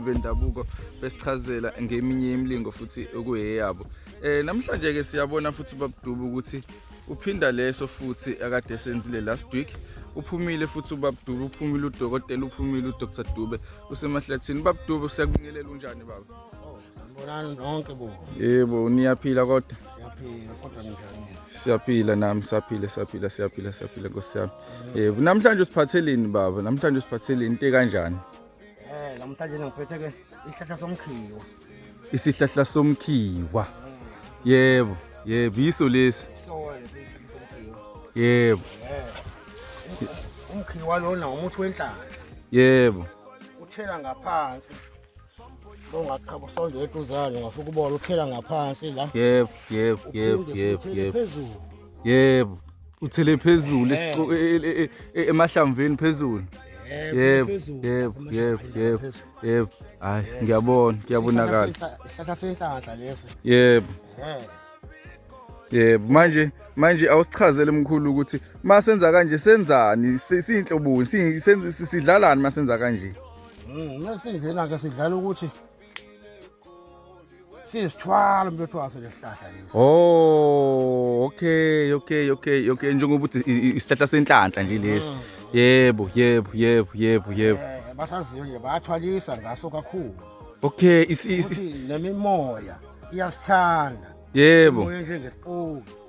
bendabuko besichazela ngeminye imilingo futhi okuyeyabo eh namhlanje ke siyabona futhi ubabuduba ukuthi uphinda leso futhi akade senzile last week uphumile futhi ubabuduba uphumile udokotela uphumile udr dube usemahlathini babuduba siyakubingelela unjani baba sanibonani nonke bo yebo niyaphila kodwa siyaphila kodwa njani siyaphila nami saphile saphila siyaphila saphila nkosi yami yebo namhlanje usiphatheleni baba namhlanje usiphatheleni into kanjani Eh namhlanje ngiphetheke isihlahla somkhiwa. Isihlahla somkhiwa. Yebo, yebo yiso lesi. Yebo. Eh. Umkhiwa lona umuthi wenhlaka. Yebo. Uthela ngaphansi. Ongaqhabo sonde eduzane ngafika ubona uthela ngaphansi la. Yebo, yebo, yebo, yebo, yebo. Yebo. uthele phezulu esicu- e- e- e- e- emahlamvini phezulu yebo yebo yebo yebo yebo hayi ngiyabona kuyabonakala isihlahla senhlanhla lesi yebo Eh, yebo manje manje awusichazele mkhulu ukuthi uma senza kanje senzani si- siyinhloboni si- sen- si- sidlalani uma senza kanje mm, uma singena-ke sidlala ukuthi siyisithwalo mfethu waso lesihlahla lesi oh okay okay okay okay njengoba ukuthi isihlahla senhlanhla nje lesi mm. yebo yebo yebo yebo yebo eh, basaziyo nje bayathwalisa ngaso kakhulu okay nemimoya iyasithanda yebo nje ngesipoki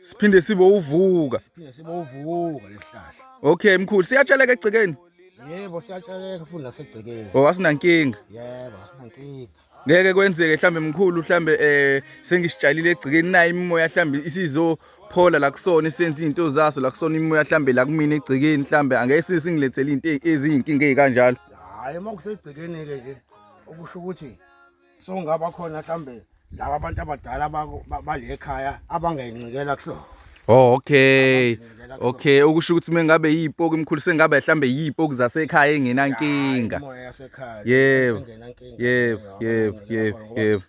siphinde sibe uvuka siphinde sibe uvuka lesihlahla okay mkhulu siyatsheleka egcekeni yebo siyatsheleka futhi nasegcekeni oh asinankinga yebo asinankinga ngeke kwenzeke mhlambe mkhulu mhlambe eh sengisitshalile egcikeni naye imimoya mhlambe isizo phola la kusona isenze izinto zaso la kusona imimoya mhlambe la kumina egcikeni mhlambe angeke sisingilethele izinto eziyinkinga ezikanjalo hayi uma kusegcikeni ke nje okusho ukuthi so ngaba khona mhlambe laba abantu abadala balekhaya abangayincikela kusona Oh okay. Okay ukusho ukuthi mengabe yipoki mkhulu sengabe mhlambe yipoki zasekhaya engenankinga. Imoya yasekhaya. Yebo. Yebo, yebo, yebo, yebo.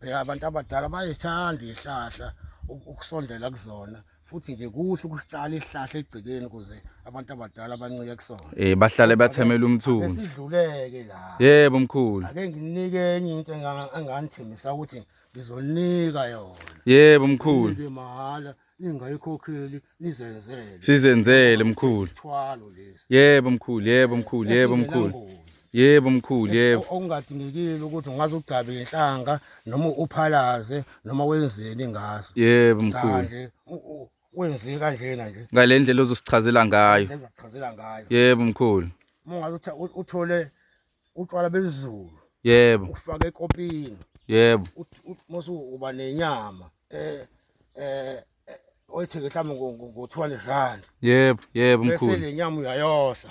Phela abantu abadala bayithanda ihlahla ukusondela kuzona. futhi nje kuhle ukuhlala isihlahla egcekeni ukuze abantu abadala bancike kusona eh bahlale bathemela umthunzi sidluleke la yebo mkhulu ake nginike enye into enganithembisa ukuthi ngizonika yona yebo mkhulu ke mahala ningayikhokheli nizenzele sizenzele mkhulu thwalo lesi yebo mkhulu yebo mkhulu yebo mkhulu yebo mkhulu yebo okungadingekile ukuthi ungaze ugcabe inhlanga noma uphalaze noma wenzeni ngaso yebo mkhulu wenze kanjena nje ngale ndlela ozosichazela ngayo ngizochazela ngayo yebo mkhulu ungathi uthole utshwala bezulu yebo ufake ekopini yebo mose uba nenyama eh eh oyithenge mhlawumbe ngo-200 rand yebo yebo mkhulu bese le nyama uyayosa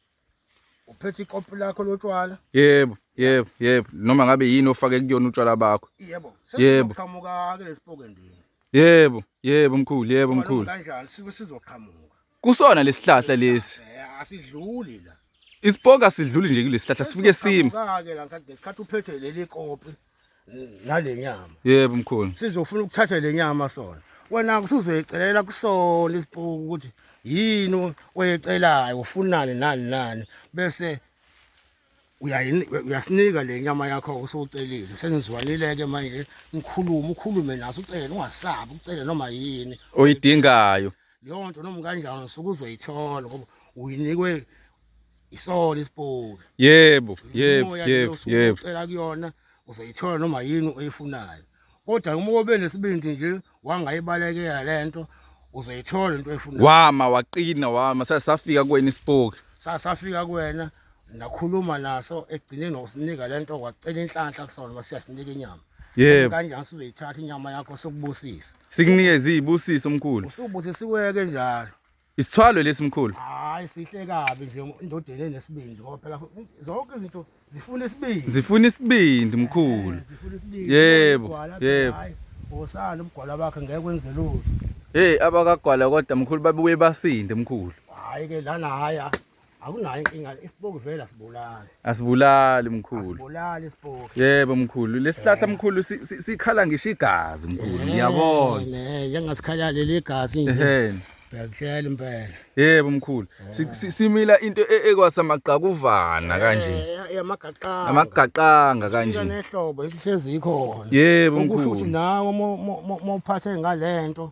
uphethe ikopi lakho lotshwala yebo yebo yebo noma ngabe yini ofake kuyona utshwala bakho yebo yebo qhamuka ke lesipoke ndini yebo yebo mkhulu yebo mkhulu kanjani sibe sizoqhamuka kusona lesihlahla lesi eh, asidluli la isipoka sidluli nje kulesihlahla sifike sima ke la ngesikhathi uphethe leli kopi nale nyama yebo mkhulu sizofuna ukuthatha le nyama sona wena kusuzoyicelela kusona isipuku ukuthi yini oyecelayo ufunani nani nani bese uyasinika le nyama yakho usucelile senizwanile-ke manje ngikhulume ukhulume naso ucele ungasabi ucele noma yini oyidingayo leyo nto noma kanjani suke uzoyithola ngoba uyinikwe isona isipoki yebo yebo yebo yebo ucela kuyona uzoyithola noma yini oyifunayo kodwa uma kobe nesibindi nje wangayibalekela lento uzoyithola into oyifunayo wama waqina wama sasafika kuwena isipoki sasafika kuwena nakhuluma naso egcineni ngokusinika lento kwacela inhlanhla kusona masiyasinika inyama yebo kanjani sizoyithatha inyama yakho sokubusisa sikunike izibusiso omkhulu usubusisiweke njalo Isithwalo lesi mkhulu. Hayi sihle kabi nje indodeni enesibindi ngoba phela zonke izinto zifuna isibindi. Zifuna isibindi mkhulu. Eh, zifuna isibindi. Yebo. Yebo. Osana umgwala wakhe ngeke kwenze lutho. Hey abakagwala kodwa mkhulu babuye basinde mkhulu. Hayi ke lana haya. akunayo inkinga isipoki vele asibulali asibulali mkhulu asibulali isipoki yebo mkhulu lesihlahla eh. mkhulu sikhala ngisho igazi mkhulu eh, ngiyabona ne yangasikhala leli gazi nje Bekuhlela impela. Yebo mkhulu. Simila into e-, ekwasamagqakuvana eh, kanje. Yamagaqanga. Amagaqanga kanje. Sina nehlobo ihlezi ikhona. Yebo mkhulu. Ukuthi nawe mophathe ngalento.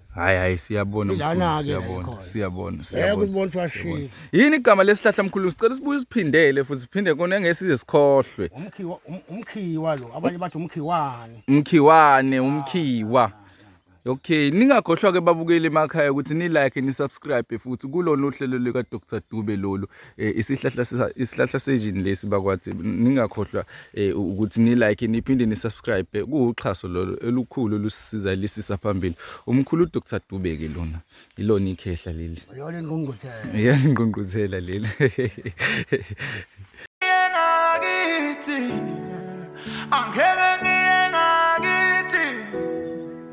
Hayi hayi siyabona mkhulu siyabona siyabona siyabona. Yini igama lesihlahla mkhulu sicela sibuye siphindele futhi siphinde kona ngesize sikhohlwe. Umkhiwa um, umkhiwa lo abanye bathi umkhiwane. Umkhiwane umkhiwa. Okay ningakhohlwa ke babukeli emakhaya ukuthi ni like ni subscribe futhi kulona uhlelo lika Dr Dube lolu. eh, isihlahla isihlahla sejini lesi bakwathi ningakhohlwa eh, ukuthi ni like niphinde ni subscribe kuwuxhaso lolo elukhulu lusisiza lisisa phambili umkhulu uDr Dube ke lona ilona ikhehla leli yona ingqungquthela yona ingqungquthela leli ngakithi angeke